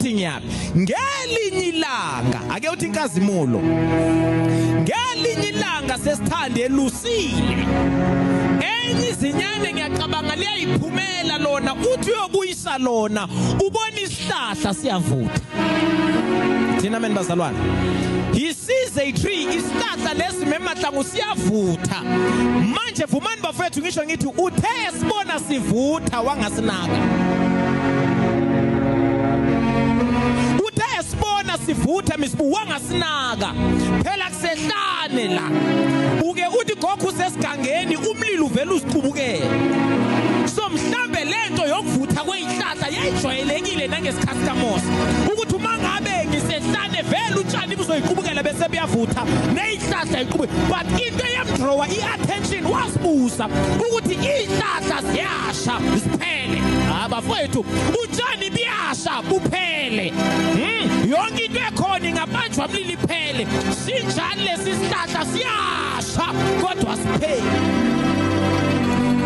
uthi ngiyaphi ngelinye ilanga ake uthi inkazimulo ngelinye ilanga sesithande elusile enye izinyane ngiyacabanga liyayiphumela lona uthi uyokuyisa lona ubona isihlahla siyavutha thina meni bazalwane he sees a tree isihlahla lesi memahlangu siyavutha Nje vumani bafethu ngisho ngithi uthe esibona sivutha wangasinaka. Uthe esibona sivutha misibu wangasinaka. Phela kusehlane la. Uke uthi gogo usesigangeni umlilo uvela usiqubukele. So mhlambe lento yokuvutha kwezihlahla yayijwayelekile nangesikhathi kaMose. Ukuthi uma ngabe ngisehlane vele utshani buzoyiqubukela bese buyavutha. ihlahla iqhube but into eyamdrawa i-attention wasibuza ukuthi iy'hlahla ziyasha ziphele abafowethu utshani biyasha buphele hmm, yonke into ekhona ingabanjwa mlili iphele sinjani lesi sihlahla siyasha kodwa siphele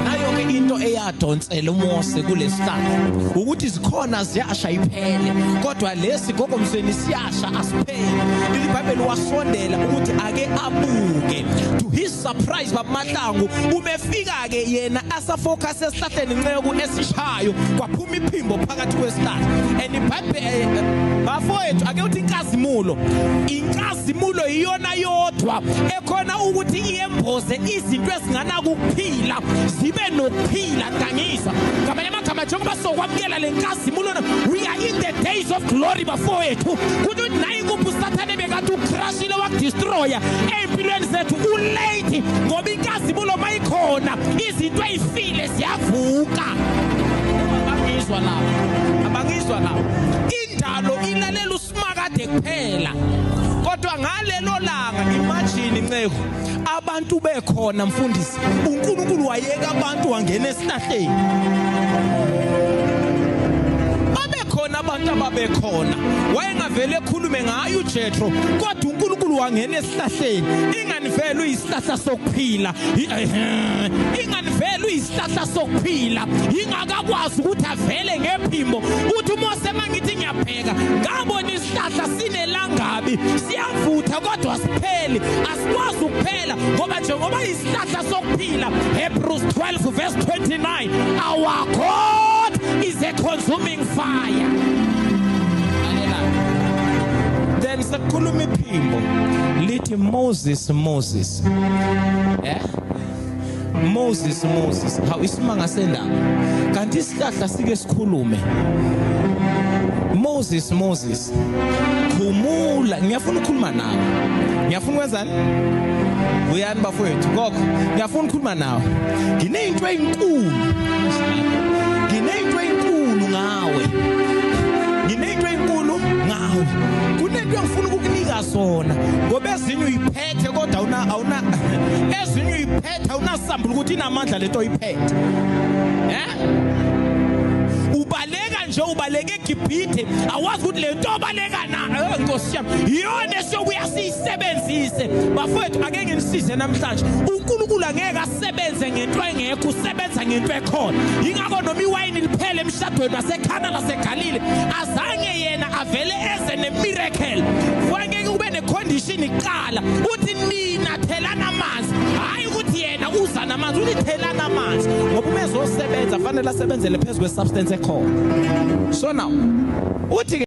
nayo-ke into eyadonsela umose kulesihlahla ukuthi zikhona ziyasha iphele kodwa lesi gokomsweni siya Asha asipheli leli bhayibheli wasondela ukuthi ake abuke to his surprise babamahlangu ubefika ke yena asafocus esihlahleni nceku esishayo kwaphuma iphimbo phakathi kwesihlahla and ibhayibheli eh, eh, bafowethu ake uthi inkazimulo inkazimulo iyona yodwa ekhona ukuthi iyemboze izinto ezinganakuphila zibe nokuphila ngangisa ngamanye amagama njengoba sokwamukela lenkazimulo we are in the days of glory bafowethu ukuthi uthi naye kuphi usathane bekathi ucrashile wakudestroya ey'mpilweni zethu ulate ngoba inkazimulo mayikhona izinto ey'file ziyavuka abangizwa lawo abangizwa lawo indalo ilalela usimakade kuphela kodwa ngalelo langa imagine inceku abantu bekhona mfundisi uNkulunkulu wayeka abantu wangena esihlahleni babekhona abantu ababekhona wayengavele ekhulume ngayo uJethro kodwa uNkulunkulu wangena esihlahleni ingani vele uyisihlahla sokuphila ingani vele uyisihlahla sokuphila ingakakwazi ukuthi avele ngephimbo uthi uMose mangithi ngiyaphela ngiyaqhubeka ngabona isihlahla sinelangabi siyavutha kodwa sipheli asikwazi ukuphela ngoba njengoba isihlahla sokuphila Hebrews 12 verse 29 our God is a consuming fire then sekukhuluma iphimbo lithi Moses Moses eh Moses Moses hawu isimanga sendaba kanti isihlahla sike sikhulume Moses Moses khumula ngiyafuna ukukhuluma nawe ngiyafuna ukwenzani uyani bafowethu kokho ngiyafuna ukukhuluma nawe nginezinto ezinkulu nginezinto ezinkulu ngawe nginezinto ezinkulu ngawe kunento engifuna ukukunika zona ngoba ezinye uyiphela Ethe kodwa una awuna ezinye uyiphethe awunasambula ukuthi inamandla lento oyiphethe. Eh? Ubaleka nje ubaleka eGibhithe awazi ukuthi lento obaleka na eh, Nkosi yami iyona esiyokuya siyisebenzise bafowethu ake nginisize namhlanje uNkulunkulu angeke asebenze ngento engekho usebenza ngento ekhona ingakho noma iwayini liphele emshadweni waseKhana laseGalile azange yena avele eze nemiracle condition iqala uthi nina thelana amanzi hayi ukuthi yena uza namanzi uthi thelana amanzi ngoba uma ezosebenza fanele asebenzele phezu kwesubstance ekhona so now uthi